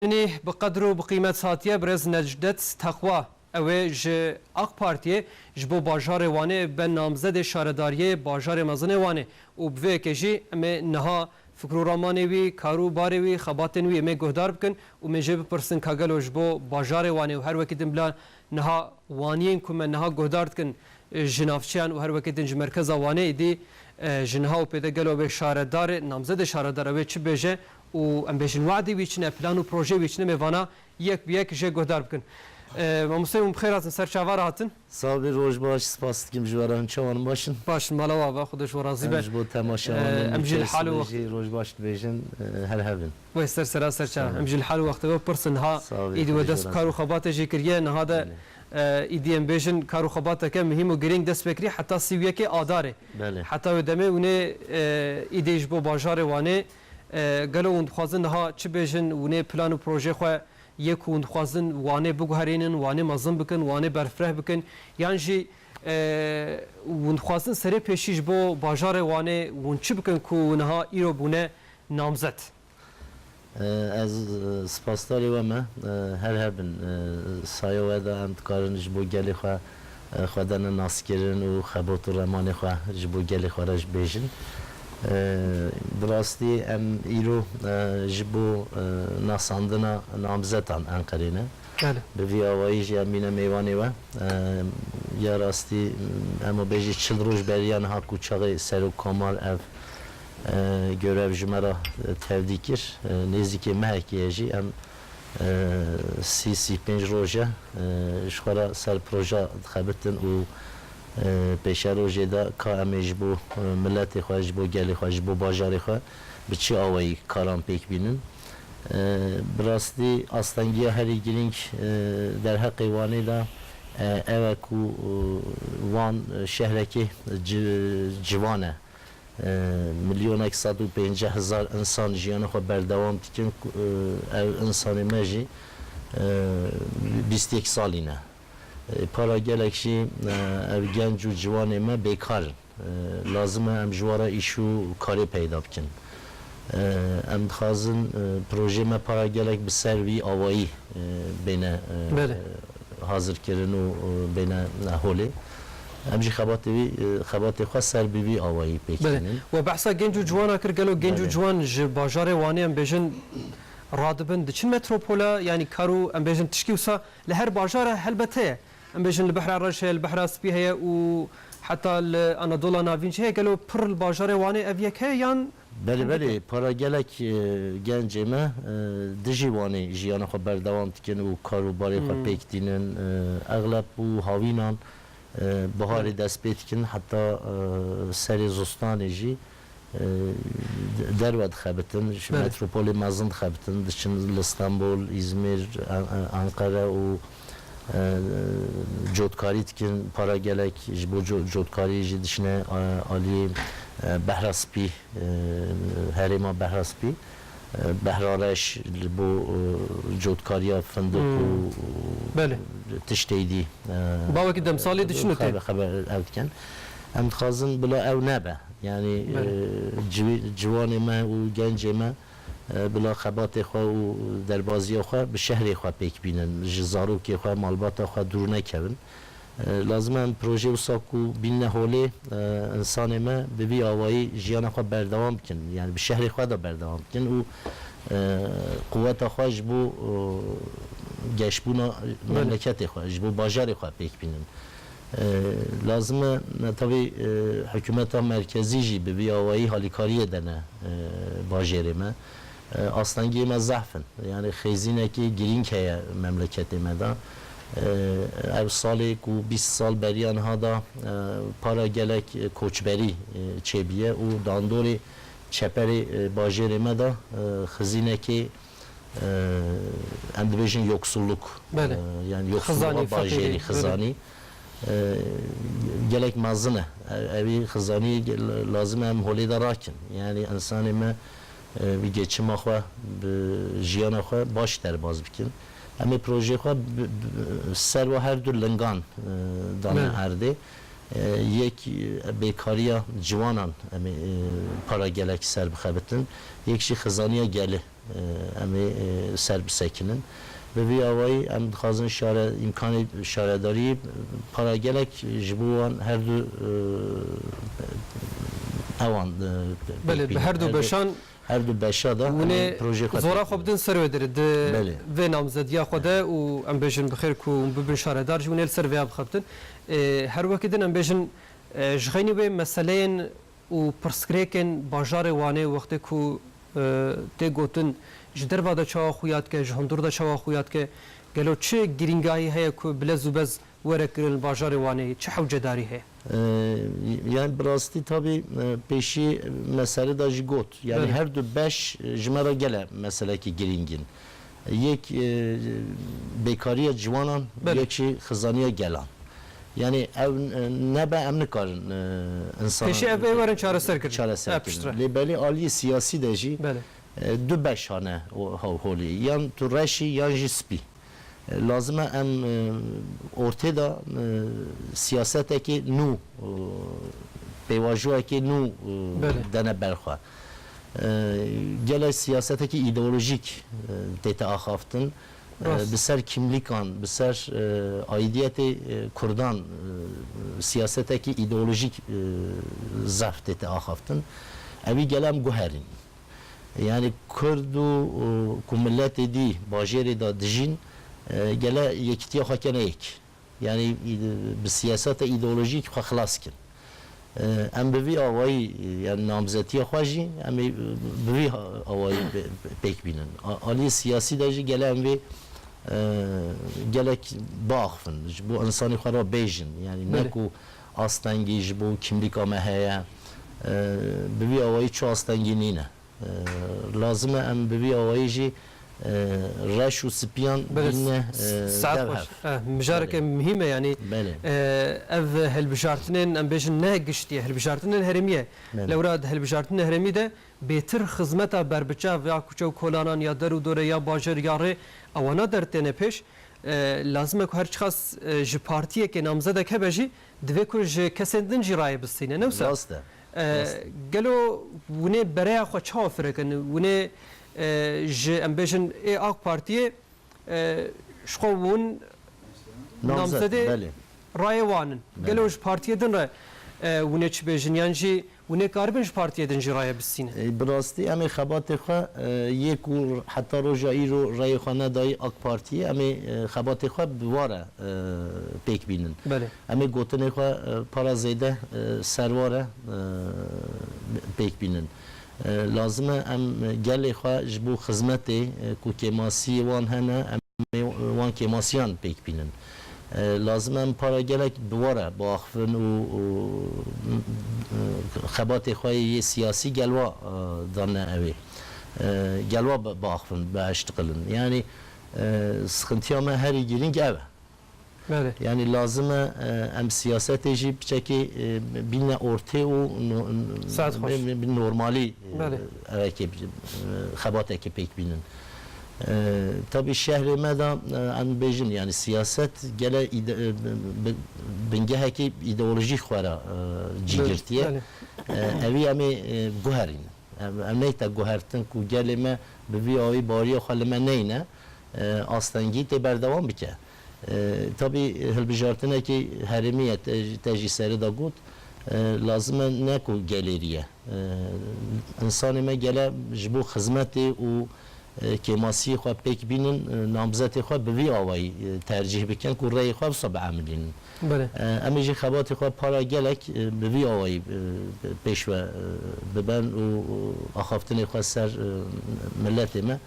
Tenê bi qedir û bi qîmet hatiye birêz Necdet Teqwa. Ew ê ji Ak Partiyê ji bo bajarê Wanê be namzedê şaredariyê bajarê mezin ê Wanê û bi vê yekê jî em ê niha fikir û ramanê wî, kar û barê wî, xebatên wî em ê guhdar bikin û em ê jê bipirsin ka gelo ji bo bajarê Wanê û her wekî din bila niha Waniyên ku me niha guhdar dikin ji navçeyan û her wekî din ji merkeza Wanê êdî ji niha û pêde gelo wê şaredar namzedê şaredar ew ê çi bêje û em bêjin we'dê wî çine, plan û projeyê wî çine mê vana yek bi yek jê guhdar bikin. Mamoste hûn bi xêr hatin ser çavan re hatin. Sax bî roj baş spas dikim ji we re hûn çawa in baş in? Baş in mala we ava xuda ji we razî be. Em ji bo temaşewan û nûçeyisû re jî roj baş dibêjin her hev in. Wê ser sera ser ça. Em ji li hal û wextê we pirs in niha îdî we dest bi kar û xebatê jî kiriye niha de îdî em bêjin kar û xebateke muhîm û girîng dest pê kirî heta sî û yekê adarê heta wê demê û nê îdî ji bo bajarê Wanê Gelo hûn dixwazin niha çi bêjin û nê plan û projeyê xwe yê ku hûn dixwazin Wanê biguherînin, Wanê mezin bikin, Wanê berfireh bikin yan jî hûn dixwazin serê pêşî ji bo bajarê Wanê hûn çi bikin ku niha îro bûne namzet? Ez spasdarê we me. Her hebin. Saye we de em dikarin ji bo gelê xwe xwe dane naskirin û xebot û remanê xwe ji bo gelê xwe re bêjin. Bi rastî em îro ji bo nasandina namzetan Enqerê ne. Bi vî awayî jî em bîne mêvanê we. Ya rastî em û bêjî çil roj beriya niha ku çaxê Serok Komar ev görev ji me re tevdî kir. Nêzîkê mehekê ye jî em Sîsî pênc roj e ji xwe re ser proja dixebitin û pêşerojê de ka em ê ji bo miletê xwe, ji bo gelê xwe, ji bo bajarê xwe bi çi awayî karan pêk bînin. Bi rastî astengiya herî girîng derheqê Wanê de ew e ku Wan şehrekî civan e. Milyonek sed û pênceh hezar însan jiyana xwe berdewam dikin ku ev însanên me jî bîst êk salî ne. Para gelek jî ev genc û ciwanên me bêkar in. Lazim e em ji we re îş û karê peyda bikin. Em dixwazin projeyê me para gelek bi ser vî awayî bêne hazirkirin û bêne holê. Em jî xebatê wî xebatê xwe ser bi vî awayî pêk tînin. Belê. We behsa genc û ciwana kir. Gelo genc û ciwan ji bajarê Wanê em bêjin radibin diçin metropola yanî kar û em bêjin tişkî wisa li her bajar e helbet heye. Em bêjin li Behra Reş heye, li Behra Spî heye û heta li Anadola Navîn jî heye. Gelo pir li bajarê Wanê ev yek heye yan Belê hindik belê, e? para gelek gencê me dijî Wanê jiyana xwe berdewam dikin û karûbarê xwe pêk tînin. Exleb û hawînan biharê dest pê dikin heta serê zistanê jî. Derve dixebitin, ji metropolê mezin dixebitin, diçin li Stenbol, Îzmîr, Enqere û cotkarî dikin, para gelek ji bo cotkarî jî diçine aliyê Behra Spî, herêma Behra Spî. Behrareş li bo cotkariya findiq û tiştê dî ew dikin. Em dixwazin bila ew nebe. Yanî ciwanê me û gencê me bila xebatê xwe û derbaziya xwe bi şehrê xwe pêk bînin. Ji zarokê xwe, malbata xwe dûr nekevin. Lazim e em projeyê wisa ku bînine holê însanê me bi vî awayî jiyana xwe berdewam bikin, yanî bi şehrê xwe de berdewam bikin û quweta xwe ji bo geşbûna memleketê xwe, ji bo bajarê xwe pêk bînin. Lazim e netewî hikûmeta merkezî jî bi vî awayî halîkariyê dene bajêrê me. Astengiyê me zehf in. Yanî xêzînekê girîng heye memleketê me de. Ev salê ku bîst sal beriya niha de para gelek koçberî çêbûye û dandorê çeperê bajêrê me de xizînekê em dibêjin yoksulluk yan yoksulluğa bajêrî xizanî gelek mezin e. Evî xizanî lazim e em holê de rakin. Yanî ensanê me. wî geçima xwe bi jiyana xwe baş derbas bikin. Em ê projeyê xwe bi serva her du lingan dane erdê. Yek bêkariya ciwanan em ê para gelek serbixebitin, yek jî xizaniya gelê em ê serbisekinin. Bi vî awayî em dixwazin şare îmkanê şaredariyê para gelek ji bo wan her du ewan Belê bi her du beşan her du beşa de em ê projeyê xwe têk bidin. Zora xwe bidin ser wê derê di vê namzediya xwe de û em bêjin bi xêr ku hûn bibin şaredar jî hûn ê li ser vêya bixebitin. Her weke din em bêjin ji xeynî wê meseleyên û pirsgirêkên bajarê Wanê wextê ku tê gotin ji derve de çawa xuya dike, ji hundir de çawa xuya dike, gelo çi girîngahî heye ku bi lez û bez were kirin li bajarê Wanê, çi hewcedarî heye? Yani bi rastî tabî pêşî me serê de jî got, yani her du beş ji me re gele meselekî girîng in. Yek bêkariya ciwanan, yek jî xizaniya gelan. Yanî ew nebe em nikarin însanan. Pêşî ev ê werin çareserkirin. Çareserkirin. Lê belê aliyê siyasî de jî du beş hane holê. Yan tu reş î yan jî spî. Lazim e em ortê de siyasetekê nû, pêvajoyekê nû dene ber xwe. Gelek siyasetekî îdeolojîk tê te axaftin. Bi ser kîmlîkan, bi ser aîdiyetê kurdan siyasetekî îdeolojîk zerf tê te axaftin. Evî gele em guherîn. Yanî kurd û ku miletê dî bajêrê de dijîn gele yekitiya xwe kene yek. Yanî bi siyaseta îdeolojîk xwe xilas bikin. Em bi vî awayî yan namzetiya xwe jî em ê bi vî awayî pêk bînin. Aliyê siyasî de jî gele em vê gelek biaxivin, ji bo însanî xwe re bêjin. Yanî ne ku astengî ji bo kîmlîka me heye, bi vî awayî çi astengî nîne. Lazim e em bi vî awayî jî reş û spiyan bîne dev hev. Mijareke muhîm e yanî ev hilbijartinên em bêjin ne giştî ye hilbijartinên herêmî ye. Lewra di hilbijartinên herêmî de bêtir xizmeta berbiçav ya kuçe û kolanan ya der û dore ya bajêr ya rê ewana dertêne pêş. Lazim e ku her çiqas ji partiyekê namzedek hebe jî divê ku ji kesên din jî rayê bistîne ne wisa? Gelo winê bereya xwe çawa firekin? Winê ji em bêjin ê ak partiyê ji xwe win namzedê rayê wan in. Gelo ji partiyê din re winê çi bêjin yan jî winê karibin ji partiyê din jî raye bistînin? Bi rastî em ê xebatê xwe yê ku heta roja îro rayê xwe nedayî ak partiyê em ê xebatê xwe bi ware pêk bînin. Em ê gotinê xwe para zêde serware pêk bînin. Lazim e em gelê xwe ji bo xizmetê ku kêmasiyê wan hene em ê wan kêmasiyan pêk bînin. Lazim e em para gelek bi we re biaxivin û xebatê xwe yê siyasî gel wa danine ew ê gel wa biaxivin, bieştiqilin. Yanî sixintiya me herî girîng ev e. Belê. Yanî lazim e em siyasetê jî biçekê bîne ortê û bi normalî rêkê xebatekê pêk bînin. Tabî şehrê me de em dibêjin yanî siyaset gele bingehekî îdeolojî xwe re cî girtiye. Evî em ê guherînin. Em neyta guhertin ku gelê me bi vî awî bariya xwe li me neyne. astengî tê berdewam bike. Tabî hilbijartinekî herêmî ye te jî seri de got, lazim e ne ku gelê rî ye. Însanê me gele ji bo xizmetê û kêmasiyê xwe pêk bînin namzetê xwe bi vî awayî tercîh bikin ku rêyê xwe wisa biemilînin. Em ê jî xebatê xwe para gelek bi vî awayî pêş ve biben û axaftinê xwe ser miletê me.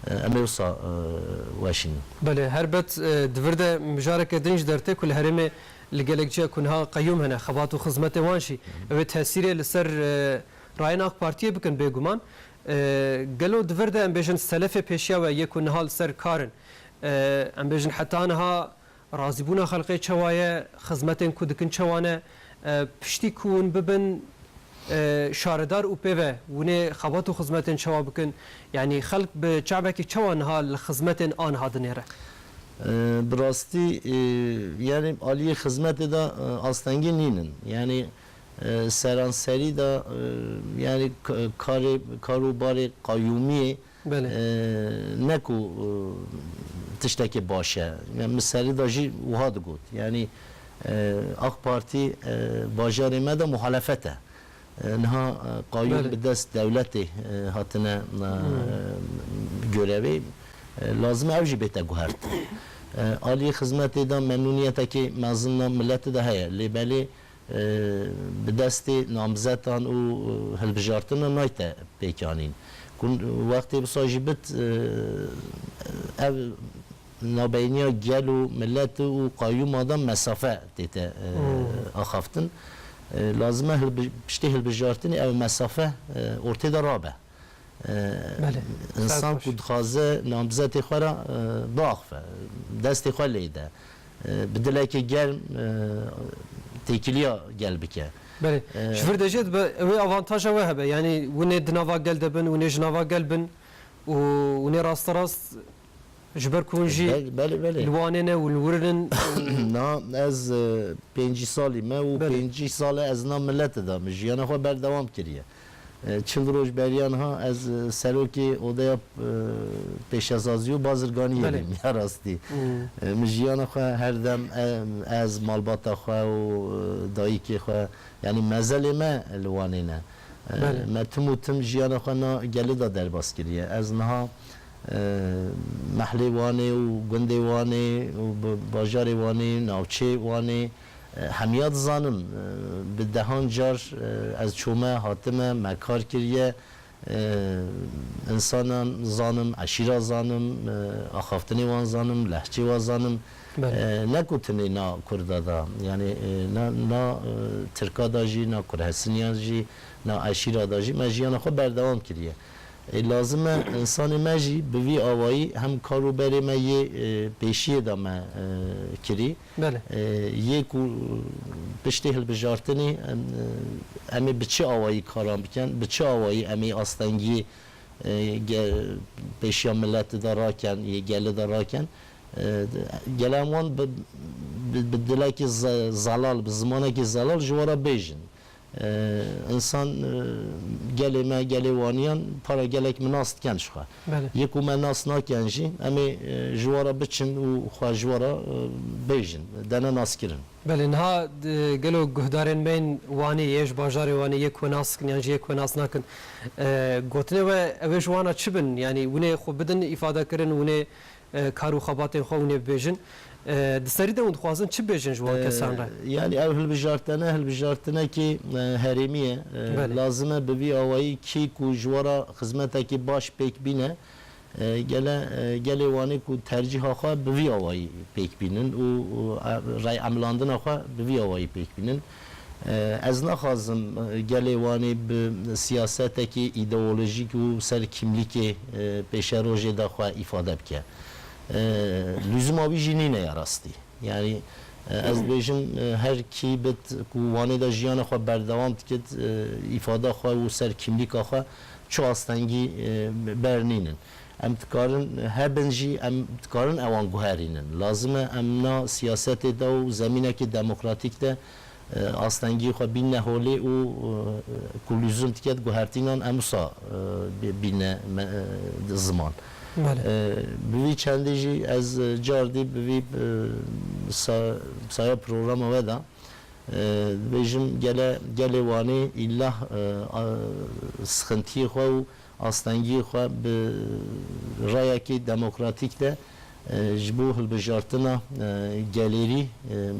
Em ê wisa weş in. Belê, helbet di vir de mijareke din jî dertê ku li herêmê li gelek ciya ku niha qeyûm hene, xebat û xizmetê wan jî ew ê tesîrê li ser rayên AK Partiyê bikin bêguman. Gelo di vir de em bêjin selefê pêşiya we yê ku niha li ser kar in, em bêjin heta niha Razîbûna xelkê çewa ye, xizmetên ku dikin çewa ne, piştî ku hûn bibin şaredar û pê ve hûnê xebat û xizmetên çewa bikin, yanî xelk bi çavekî çewa niha li xizmetên aniha dinêre? Bi rastî yanî aliyê xizmetê de astengî nîn in. Yanî seranserî de yanî karê kar û barê qayûmiyê Ne ku tiştekî baş e. Min serî de jî wiha digot. Yanî Ak Partî bajarê me de muhalefet e. Niha qayûm bi dest dewletê hatine gorevê. Lazim e ew jî bête guhertin. Aliyê xizmetê de memnûniyetekî mezin a miletê de heye. Lê belê Bi destê namzetan û hilbijartina nayte pêkanîn. Ku wextê wisa jî bit ev navbeyniya gel û milet û qayûma de mesafe tête axaftin. Lazime piştî hilbijartinê ev mesafe ortê de rabe. Însan ku dixwaze namzetê xwe re biaxive, destê xwe lê de, bi dilekî germ têkiliya gel bike. Belê. Ji vir de jî dibe wê avantaja we hebe. Yanî hûn ê di nava gel de bin, hûn ê ji nava gel bin û hûn ê rasterast ji ber ku hûn jî li Wanê ne û li wir in û. Na, ez pêncî salî me û pêncî sal e ez nav milete de me jiyana xwe berdewam kiriye. Çil roj beriya niha ez serokê odeya pêşesazî û bazirganiyê bûm ya rastî. Min jiyana xwe her dem ez, malbata xwe û dayîkê xwe yanî mezelê me li Wanê ne. Me tim û tim jiyana xwe na gelê de derbas kiriye. Ez niha mehlê Wanê û gundê Wanê û bajarê Wanê, navçeyê Wanê, Hemiya dizanim, bi dehan car ez çûme, hatime, me kar kiriye, însanan zanim, eşîra zanim, axaftinê wan zanim, lehçê wan zanim. Ne ku tenê na kurda da, yanî na na tirka da jî, na kurhesiniyan jî, na eşîra da jî me jiyana xwe berdewam kiriye. Ê lazim e însanê me jî bi vî awayî hem kar û berê me yê pêşiyê da me kirî, Belê. Yê ku piştî hilbijartinê em ê bi çi awayî karan bikin, bi çi awayî em ê astengiyê pêşiya mileti de rakin, yê geli de rakin, gelo em wan bi dilekî zelal, bi zimanekî zelal ji we re bêjin. Insan gelê me, gelê waniyan para gelek min nas diken ji xwe. Yê ku me nas nakin jî em ê ji we re biçin û xwe ji we re bêjin, de ne nas kirin. Belê niha gelo guhdarên me yên Wanê yê, ji bajarê Wanê yê ku we nas dikin yan jî yê ku we nas nakin gotinê we ew ê ji wan re çi bin? Yanî winê xwe bidin îfade kirin, winê Kar û xebatên xwe hûnê bibêjin. Di serî de hûn dixwazin çi bêjin ji wan kesan re? Yanî ev hilbijartene hilbijartinekî herêmî ye. Lazim e bi vî awayî kî ku ji we re xizmetekî baş pêk bîne gele gelê Wanê ku tercîha xwe bi vî awayî pêk bînin û rayemilandina xwe bi vî awayî pêk bînin. Ez naxwazim gelê Wanê bi siyasetekî îdeolojîk û ser kîmlîkê pêşerojê de xwe îfade bike. Lûzuma wî jî nîne ya rastî. Yanî ez dibêjim her kî bit ku Wanê de jiyana xwe berdewam dikit, îfada xwe û ser kîmlîka xwe çi astengî bernînin. Em dikarin hebin jî em dikarin ewan guherînin. Lazim e em na siyasetê de û zemînekî demokratîk de astengiyê xwe bînne holê û ku lûzum dike di guhertînan em wisa bînne ziman. Bi vî çendî jî ez cardî bi vî saya programa we de dibêjim gele gelê Wanê îlah sixintiyê xwe û Astengiyê xwe bi rayekî demokratîk de ji bo hilbijartina gelêrî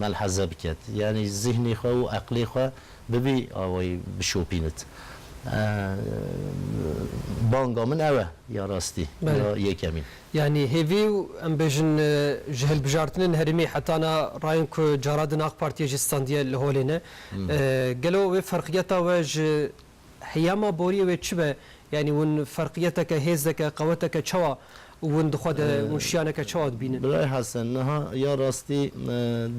melheze biket. Yanî zîhnê xwe û eqlê xwe bi vî awayî bişopînit. Banga min ew e ya rastî ya yekemîn. Yanî hêvî û em bêjin ji hilbijartinên herêmê heta na rayên ku cara din Aqpartiyê jî standiye li holê ne. Gelo wê ferqiyeta we ji Heyama boriyê wê çi be? Yanî hûn ferqiyeteke, hêzeke, qeweteke çawa hûn di xwe de, hûn şiyaneke çawa dibînin? Birayê Hesen, niha ya rastî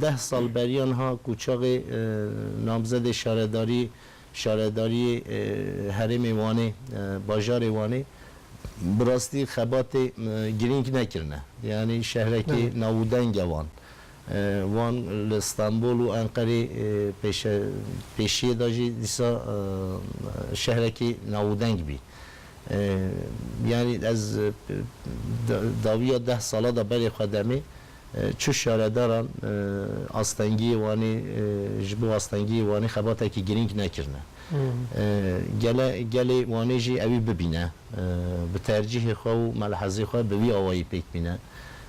deh sal beriya niha ku çaxê namzedê şaredarî şaredariyê herêmê Wanê, bajarê Wanê bi rastî xebatê girîng nekirine. Yanî şehrekî navûdeng e Wan. Wan li Stenbol û Enqerê pêşe pêşiyê da jî dîsa şehrekî navûdeng bî. Yanî ez dawiya deh sala da berê xwe demê çû şaredaran astengiyê Wanê ji bo astengiyê Wanê xebatekî girîng nekirine. Gele gelê Wanê jî ewî bibîne bi tercîhê xwe û melhezê xwe bi wî awayî pêk bîne.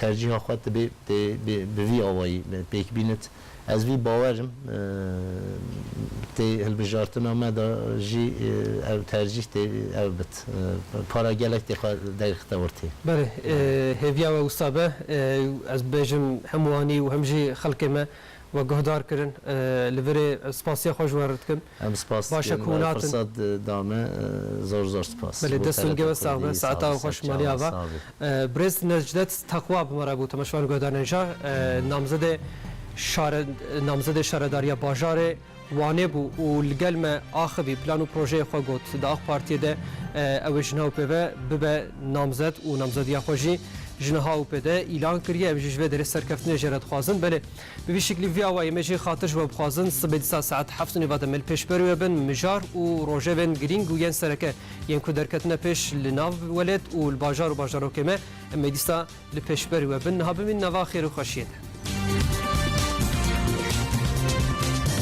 Tercîha xwe tu bê bi vî awayî pêk bînit. Ez vî bawer im. Tê hilbijartina me de jî ev tercîh tê ev bit. Para gelek tê xwe dergixte ortê. Belê, hêviya we wisa be. Ez bibêjim hem wanî û hem jî xelkê me. We guhdar kirin. Li vir ê spasiya xwe ji wan re dikim. Em spas dikim. Baş e ku natin. Firsat da me. Zor zor spas. Belê dest û nigê we sax be. Saeta xweş malê ava. Birêz Necdet Teqwa bi me re bû. Temeşvan Guhdarnejah namzedê şaredariya bajarê. Wanê bû û li gel me axivî plan û projeyê xwe got. Di Ak Partiyê de ew ê ji nav pê ve bibe namzet û namzediya xwe jî ji niha û pê de îlan kiriye. Em jî ji vê derê serkeftinê jê re dixwazin. Belê bi vî şiklî vî awayî me jî xatir ji we bixwazin sibê dîsa saet heft û nîva de me li pêş berê we bin. Mijar û rojevên girîng û yên sereke yên ku derketine pêş li nav welêt û li bajar û bajarokê me em ê dîsa li pêş berê we bin. Niha bimînin nava xêr û xweşiyê de.